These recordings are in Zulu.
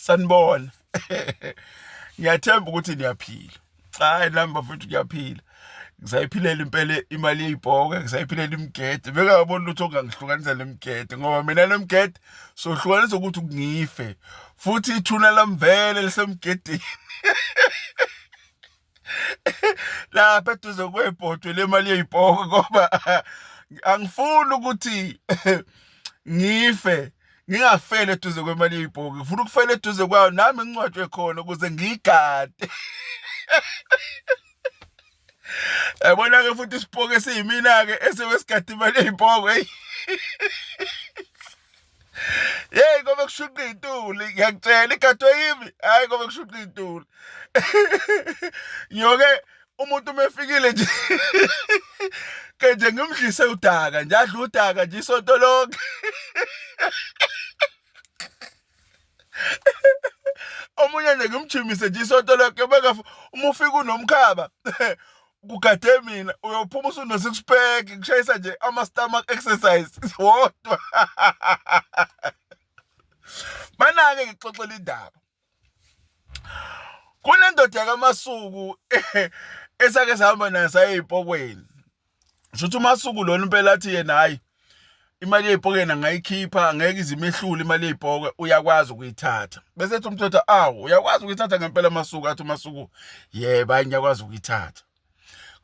sanibona ngiyathemba ukuthi niyaphila hayi nami bafethu ngiyaphila ngisayiphilela impela imali yeyibhoke ngisayiphilela imigede bekangaboni lutho ongangihlukanisa nemigede ngoba mina nemigede sohlukanisa ukuthi ngife futhi ithuna lamvele lisemgedeni lapha eduze kwebhodwe lemali yeyipoko ngoba angifuni ukuthi ngife ngingafeli eduze kwemali yeyipoko ngifuna ukufela eduze kwayo nami ngincwatshwe khona ukuze ngiyigade yabona-ke futhi isipoke siyimina-ke esewesigade imali yeyipoko eyi Yeyi ngoba kushunqa iy'tuli ngiyakutshela igadwe yimi hhayi ngoba kushunqa iy'tuli ngiyoke umuntu uma efikile nje ke nje ngimdlise udaka nje adle udaka nje isonto lonke omunye nje ngimjimise nje isonto lonke bekafa uma ufika unomkhaba kugade mina uyophuma usuno-six pack kushayisa nje ama-stomach exercise wodwa banake ngixoxela indaba kunendoda yakamasuku esake sihamba nayo sayey'pokweni Kusho ukuthi uMasuku lona impela athi yena hhayi imali yey'pokeni angayikhipha angeke ize imehlule imali yey'poke uyakwazi ukuyithatha bese ethi umthetho awu uyakwazi ukuyithatha ngempela amasuku athi umasuku yebo hayi ngiyakwazi ukuyithatha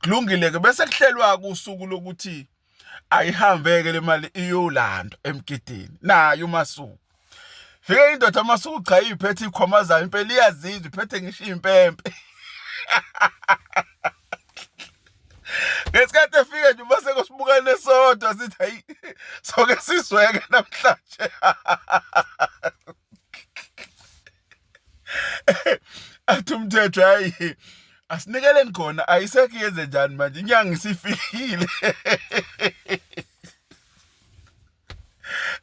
kulungile-ke bese kuhlelwa-ke usuku lokuthi ayihambe-ke le mali iyolandwa emgidini nayo umasuku Fike indoda amasuku cha iphethe ikhomazayo impela iyazizwa iphethe ngisho impempe. Ngesikhathi efike nje uma sekosibukane sodwa sithi hayi soke sizweke namhlanje. Athi umthetho hayi asinikeleni khona ayisekho yenze njani manje inyanga isifikile.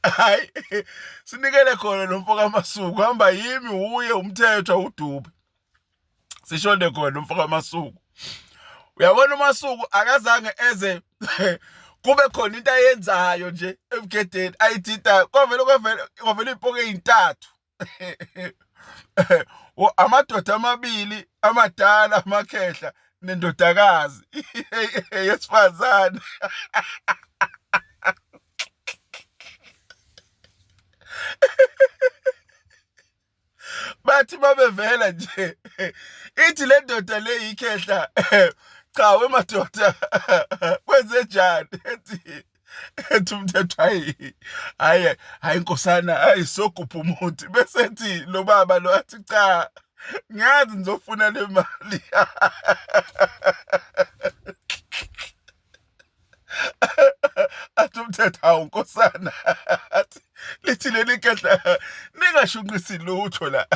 hayi sinikele khona lo mfo kamasuku hamba yimi wuye umthetho awudube sishonde khona lo mfo kamasuku uyabona umasuku akazange eze kube khona into ayenzayo nje ebugedeni ayidida kwavele kwavele kwavele iy'poke ey'ntathu amadoda amabili amadala amakhehla nendodakazi yesifazane bathi babevela nje ithi le ndoda le yikhehla cha wemadoda kwenzenjani ethi ethi umthetho hayi hayi hayi nkosana hayi sogupha umuthi bese ethi lo baba lo athi cha ngiyazi ngizofuna le mali athi umthetho hawu nkosana athi lithi leli gadla ningashunqisi lutho la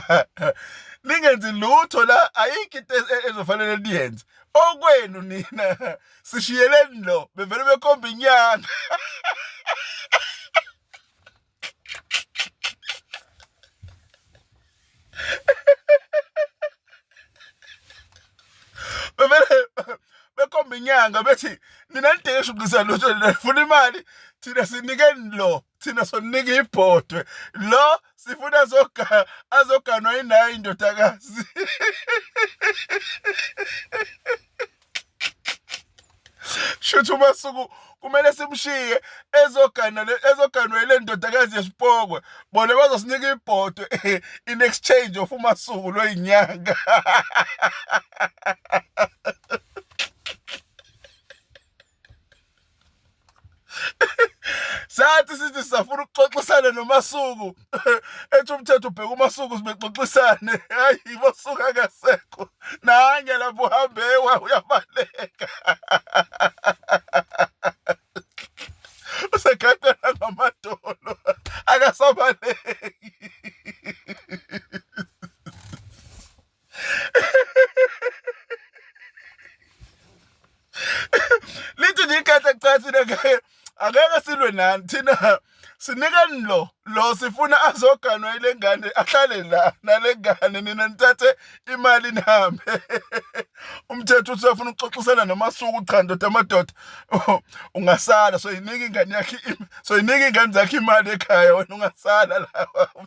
ningenzi lutho la ayikho into e-, ezofanele niyenze okwenu nina sishiyeleni lo bevele bekhomba inyanga inyanga bethi nina nidinga ishuqisa lutho nifuna imali thina sinikeni lo thina sonika ibhodwe lo sifuna azoganwa yinayo indodakazi Shuthi uMasuku kumele simshiye ezogana ezoganwa ile ndodakazi yesipokwe bona bazosinika ibhodo in exchange of uMasuku loyinyanga sathi sithi sisafuna ukuxoxisana nomasuku ethi umthetho ubheka umasuku sibexoxisane hayi masuku akasekho nange lapho uhambe wa uyabaleka usekhathala ngamadolo akasabaleki lithi nje ikhetha kucathi nakaye akeke silwe nani thina sinikani lo lo sifuna azoganwa ile ngane ahlale la nale ngane nina nithathe imali nihambe umthetho uthi uyafuna ukuxoxisana nomasuku cha ndoda amadoda ungasala so yinika ingane yakhe so yinika ingane zakhe imali ekhaya wena ungasala la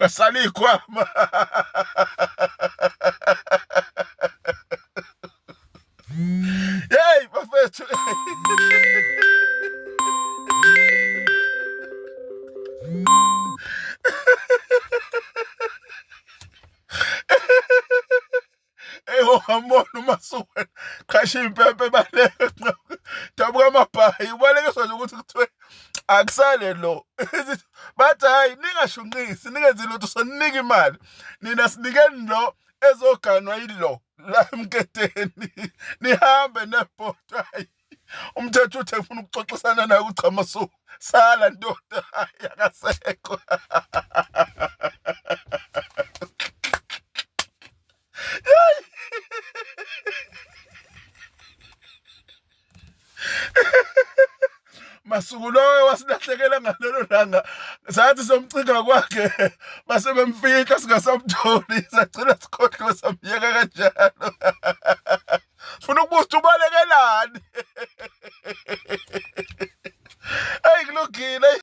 Basala iy'khwama. Yeyi bafethu. Eyi ongambona uma suke qhashe impempe baleke dabuka amabhayi ubalekiswa nje ukuthi kuthiwe akusale lo bathi hhayi ningashunqisi ningenzi lutho soninika imali nina sinikeni lo ezoganwa yilo la emketeni nihambe nebhodwa umthetho uthi efuna ukuxoxisana naye ukuchama so sala ndoda yakasekho masuku loyo wasilahlekela ngalelo langa sathi somcinga kwakhe base bemfihla singasamtholi sagcina sikhohliwe samyeka kanjalo funa ukubuza ukuthi ubalekelani eyi kulungile.